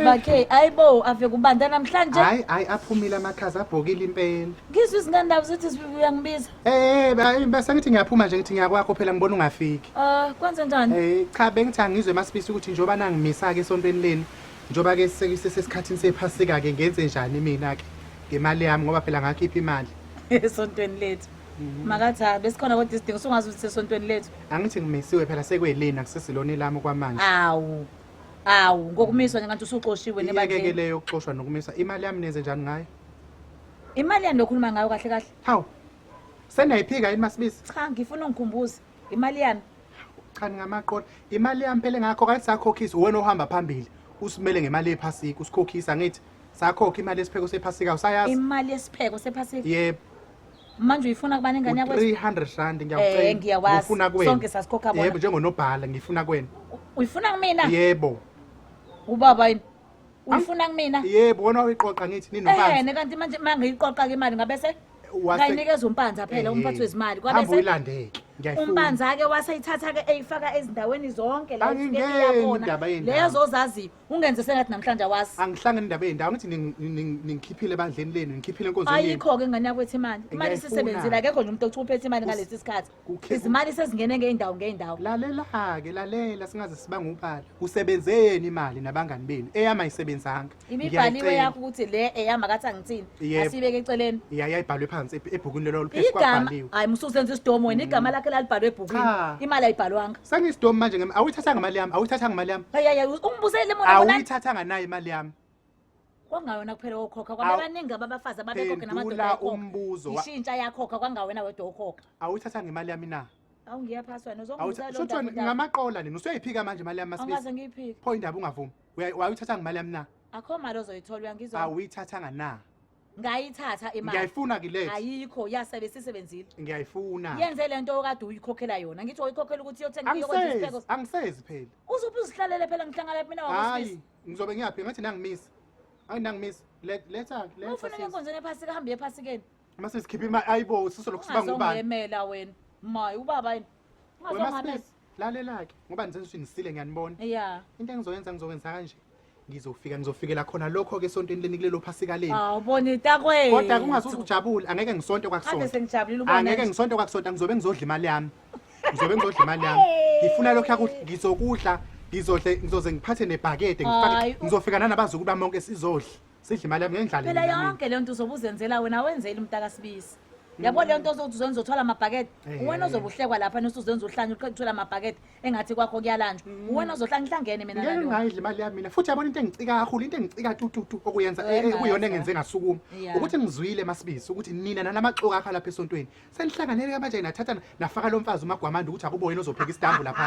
bakhe ayibo ave kubanda namhlanje hayi hayi aphumile amakhaza abhokile impela ngizwe izingandawo zithi sibibi uyangibiza eh eh bese ngithi ngiyaphuma nje ngithi ngiyakwakho phela ngibona ungafiki ah kwenze njani eh cha bengithi angizwe masibisi ukuthi njoba nangimisa ke esontweni leni njoba ke sesikhathini sephasika ke ngenze njani mina ke ngemali yami ngoba phela ngakhipha imali esontweni lethu mhm. makathi ha ah, besikhona kodwa isidingo sungazi ukuthi sesontweni lethu angithi ngimisiwe phela sekwelina kusesiloni lami okwamanje awu awu ngokumiswa njengathi usuxoshiwe iyeke ke nebandleni leyo yokuxoshwa nokumiswa imali yami nenze njani ngayo imali yani lokhuluma ngayo kahle kahle hawu senayiphika yini masibisi cha ngifuna ungikhumbuze imali yami cha ningamaqola imali yami phela ngakho kade sakhokhisa uwena ohamba phambili usimele ngemali yephasika usikhokhisa ngithi sakhokha imali yesipheko sephasika usayazi imali yesipheko sephasika yebo manje uyifuna kubani ingane yakwe 300 rand ngiyakucela eh ngiyawazi ngifuna kwena sonke sasikhokha bona yebo njengonobhala ngifuna kwena uyifuna kumina yebo ubaba yini uyifuna kumina yebo wona uyiqoqa ngithi ninobanzi eh kanti manje mangiyiqoqa ke imali ngabe se kayinikeza umpanza phela eh, umphathi wezimali kwabe se uyilandeke umpanza ke waseyithatha ke eyifaka ezindaweni zonke la ifike iyabona lezo zaziyo ungenze sengathi namhlanje awazi angihlangene indaba ezindawo ngithi ning- ning- ningikhiphile ebandleni lenu ngikhiphile enkonzweni yenu ayikho-ke ingane yakwethi imali imali Ngiyayifuna. isisebenzile akekho nje umuntu othi uphethe imali ngalesi sikhathi kukhe- izimali sezingene ngey'ndawo ngey'ndawo lalela-ke lalela singaze sibange ubala usebenze yeni imali nabangani benu eyami ayisebenzanga imibhaliwe Ngiyayicela. yakho ukuthi le eyami akathi angithini Yebo. asiyibeke eceleni ya yayibhalwe phansi eb- ebhukwini lelo oluphezu igama kwabhaliwe hayi musuzenza isidomo wena igama lakhe lalibhalwe ebhukwini Cha. imali ayibhalwanga sangisidomi manje ngem- awuyithathanga imali yami awuyithathanga imali yami ayaya ungibusele mona mona awuyithathanga nayo imali yami kwangawena kuphela okhokha Awu. kwabebaningi ababafazi ababekhokhe namadoda phendula ayekhokha. umbuzo wa- ishintsha yakhokha kwangawena wedwa okhokha awuyithathanga imali yami na awungiyaphasi wena Awutha- uzongizalo shothiwa ngamaqola nini usuyayiphika manje imali yami masibisi angaze ngiyiphike pho indaba ungavumi Uya- wayithathanga imali yami na akho mali ozoyithola uyangizwa awuyithathanga na ngayithatha imali ngiyayifuna ke late ayikho yasebe sisebenzile ngiyayifuna yenze le nto okade uyikhokhela yona ngithi uyikhokhela ukuthi iyothenga iyokwenza angisezi isipheko angisezi phela uzuphi uzihlalele phela ngihlangana mina hayi wakwasisi ngizobe ngiyaphi ngathi nangimisa hayi nangimisa Le- letha letha ufuna sis. enkonzweni ephasika hambe ephasikeni uma sesikhipha imali ayibo sisolokhu siba ngubani ungazongiyemela wena maye ubaba yini Wena ungazongamela maSibisi. lalelake ngoba nizensuthi nisile ngiyanibona yeah into engizoyenza ngizokwenza kanje ngizofika ngizofikela khona lokho ke esontweni leni kulelo phasika leni awubona intakwethu kodwa kungazuza ujabule angeke ngisonte kwakusonta sengijabulile ubona angeke ngisonte kwakusonta ngizobe ngizodla imali yami ngizobe ngizodla imali yami ngifuna lokho yakudla ngizokudla ngizodle ngizoze ngiphathe nebhakede ngifake ngizofika nanabazukulu bami bonke sizodla sidla imali yami ngendlala phela mina, mina. yonke leyo nto uzobe uzenzela wena wenzeli umntaka sibisi yabo leyo nto ozothi uzenza uthwala amabhakede Eh. uwena ozobe uhlekwa lapha nosuzenza uhlanye uqeda uthwala amabhakede engathi kwakho kuyalanjwa uwena ozohlanye ngihlangene mina ngeke nalowo. ngayidla imali yami mina futhi yabona into engicika kakhulu into engicika tututu okuyenza eh, Wena, ekuyona engenze ngasukuma Yeah. ukuthi ngizwile masibisi ukuthi nina nanamaxoka akho lapha esontweni senihlanganele kamanje nathatha nafaka lo mfazi umagwamanda ukuthi akubo yena ozopheka isitambu lapha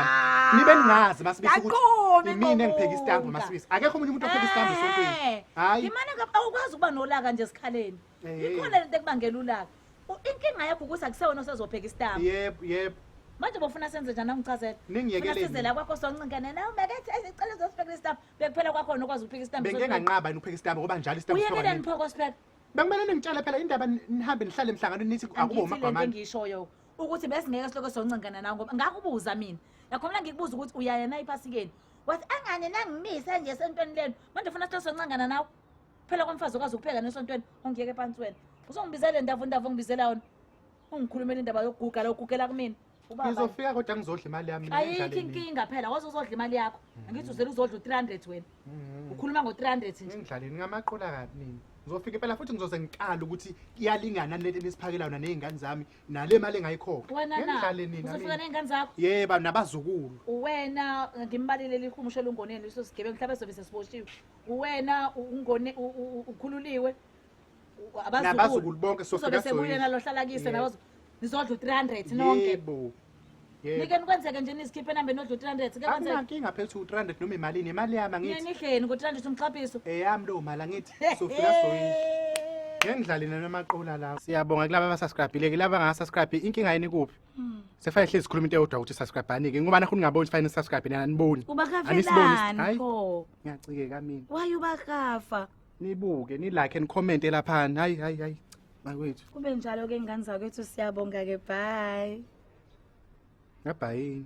nibe ningazi masibisi ukuthi Yaqome imina engipheka isitambu Qobonga. masibisi akekho omunye umuntu opheka isitambu esontweni Eh, Hhayi. imana ka- awukwazi ukuba nolaka nje esikhaleni Eh. ikhona lento ekubangela ulaka U- inkinga yakho ukuthi akusewona osezopheka isitambu yebo yebo manje bofuna senze njani angichazela Ningiyekeleni. sizela kwakho sonqinkane nawe makethi ezicela uzosiphekela isitambu bekuphela kwakhona okwazi ukupheka isitambu bengike nganqaba yini ukupheka isitambu ngoba njalo isitambu siphekwa uyekeleni nini? pho kosipheka Bekumele ningitshele phela indaba n- nihambe nihlale emhlanganweni nithi akubo Angithi lento magwamana. engishoyo ukuthi besingeke silokho soncengana nawe ngoba ngakubuza mina yakho mina ngikubuza ukuthi uyaya na iphasikeni wathi angane nangimise nje esontweni lenu manje ufuna silokho soncengana nawe phela kwamfazi okwazi ukupheka nesontweni ongiyeke phansi wena uzongibizela le ndavundava ongibizela yona ungikhulumela indaba yokuguga la ugugela kumina Ubaba. Ngizofika kodwa ngizodla imali yami. mina Ayikho endlaleni. inkinga phela waze uzodla imali yakho. Angithi uzele uzodla u300 wena. Mhm. Ukhuluma ngo300 nje. Engidlaleni ngamaqola kabi mina. Ngizofika impela futhi ngizoze ngiqala ukuthi iyalingana lento enisiphakela yona nezingane zami nale mali engayikhokha. Wena na. Engidlaleni mina. Uzofika mina. nezingane zakho. Yeba nabazukulu. Uwena ngimbalile lihumusho lungoneni liso sigebengu mhlawumbe sobe sesiboshiwe. Uwena ungone u- u- u- ukhululiwe. nabazukulu bonke sosobe sebuye nalo hlala kise nabazo nizodla u300 nonke yebo Nike nikwenzeke nje nisikhiphe enambeni odla u300 ke kwenzeke Akunankinga phethu u300 noma imalini imali yami angithi Yini ihleni ngo300 umxhaphiso Eyami lo mali angithi sofika soyisho Ngengidlali nalo maqola lawo. Siyabonga kulabo abasubscribile ke laba ngasubscribe inkinga yini kuphi? Hmm. Sefaya hlezi sikhuluma into eyodwa ukuthi subscribe bani ke ngoba nakhona ngaboni fine subscribe nina aniboni. Uba kavelani pho. Ngiyacike kamina. Why uba kafa? nibuke nilike and comment elaphani hayi hayi hayi bakwethu kube njalo ke ngane zakwethu siyabonga ke bye ngabhayini